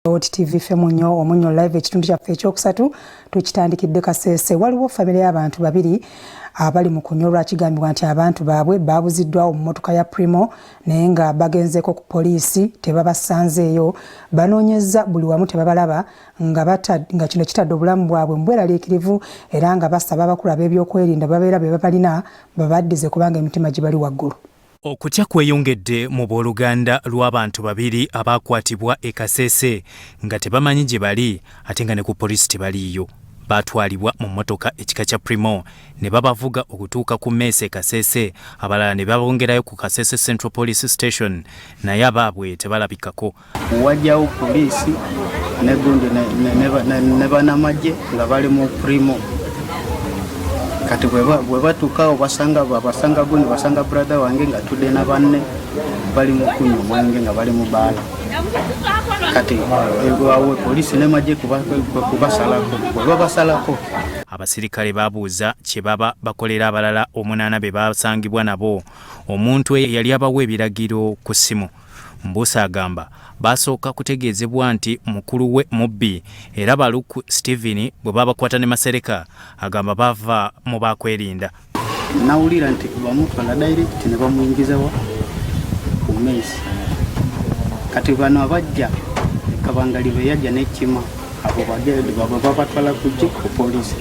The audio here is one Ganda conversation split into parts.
Oti TV ffe munyo omunyo live ekitundu kyaffe ekyokusatu tukitandikidde kasese waliwo famire y'abantu babiri abali mu kunyolwa kigambibwa nti abantu baabwe baabuziddwawo mu mmotoka ya primo naye nga bagenzeeko ku poliisi tebabasanzeeyo banoonyezza buli wamu tebabalaba nga, nga kino kitadde obulamu bwabwe mubweraliikirivu era nga basaba abakulu ab'ebyokwerinda babeera be babalina babaddize kubanga emitima gibali waggulu Okutya kweyongedde mu booluganda lw'abantu babiri abaakwatibwa e Kasese nga tebamanyi gye bali ate nga ne ku poliisi tebaliiyo. Baatwalibwa mu mmotoka ekika kya Primo ne babavuga okutuuka ku mmeese e Kasese, abalala ne babongerayo ku Kasese Central Police Station naye abaabwe tebalabikako. Wajjawo poliisi ne gundi ne banamagye nga bali mu primo kati bwebatukawo basanga babasanga gundi basanga brother wange nga tudde na banne bali mu kunywa omwenge nga bali mu baala kati ewawe poliisi nemagye kubasalako bwebabasalako abasirikale babuuza kye baba bakolera abalala omunaana be basangibwa nabo omuntu eyali abawa ebiragiro ku ssimu Mbusa agamba baasooka kutegeezebwa nti mukulu we mubbi era Baluku Steven bwe baabakwata ne Masereka agamba baava mu baakwerinda. Nawulira nti bamutwala direct ne bamuyingizawa ku mesi kati bano abajja kabangali be yajja n'ekima abo bagenda baba babatwala ku jik ku polisi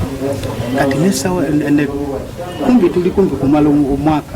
kati nesawa kumbi tuli kumbi kumala omwaka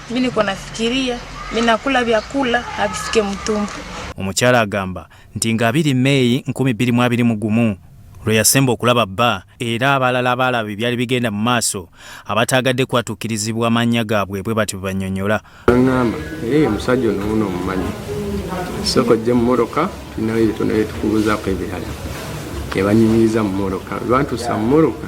Mi niko nafikiria mi nakula vyakula havifike mtumbo. Omukyala agamba nti nga abiri Meeyi nkumi bbiri mu abiri mu gumu lwe yasemba okulaba bba era abalala abaalaba ebyali bigenda mu maaso abataagadde kwatuukirizibwa amannya gaabwe bwe bati bebanyonyola aŋŋamba era ye musajja onowuno omumanyi soko jje mu moroka tulinayo ebitono byetukubuuzaako ebirala ebanyumiriza mu moroka lwantuusa mu moroka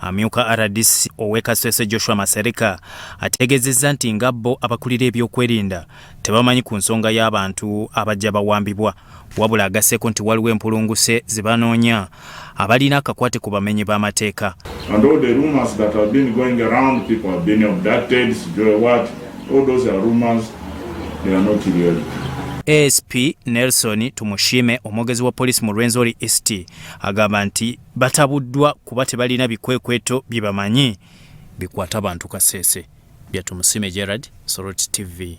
Amyuka RDC ow'e Kasese Joshua Masereka ategeezezza nti nga bo abakulira ebyokwerinda tebamanyi ku nsonga y'abantu abajja bawambibwa wabula agasseeko nti waliwo empulunguse ze banoonya abalina akakwate ku bamenyi b'amateeka ASP Nelson Tumushime omwogezi wa poliisi mu Rwenzori East agamba nti batabuddwa kuba tebalina bikwekweto bye bamanyi bikwata bantu Kasese. Byatumusime Gerard, Soroti TV.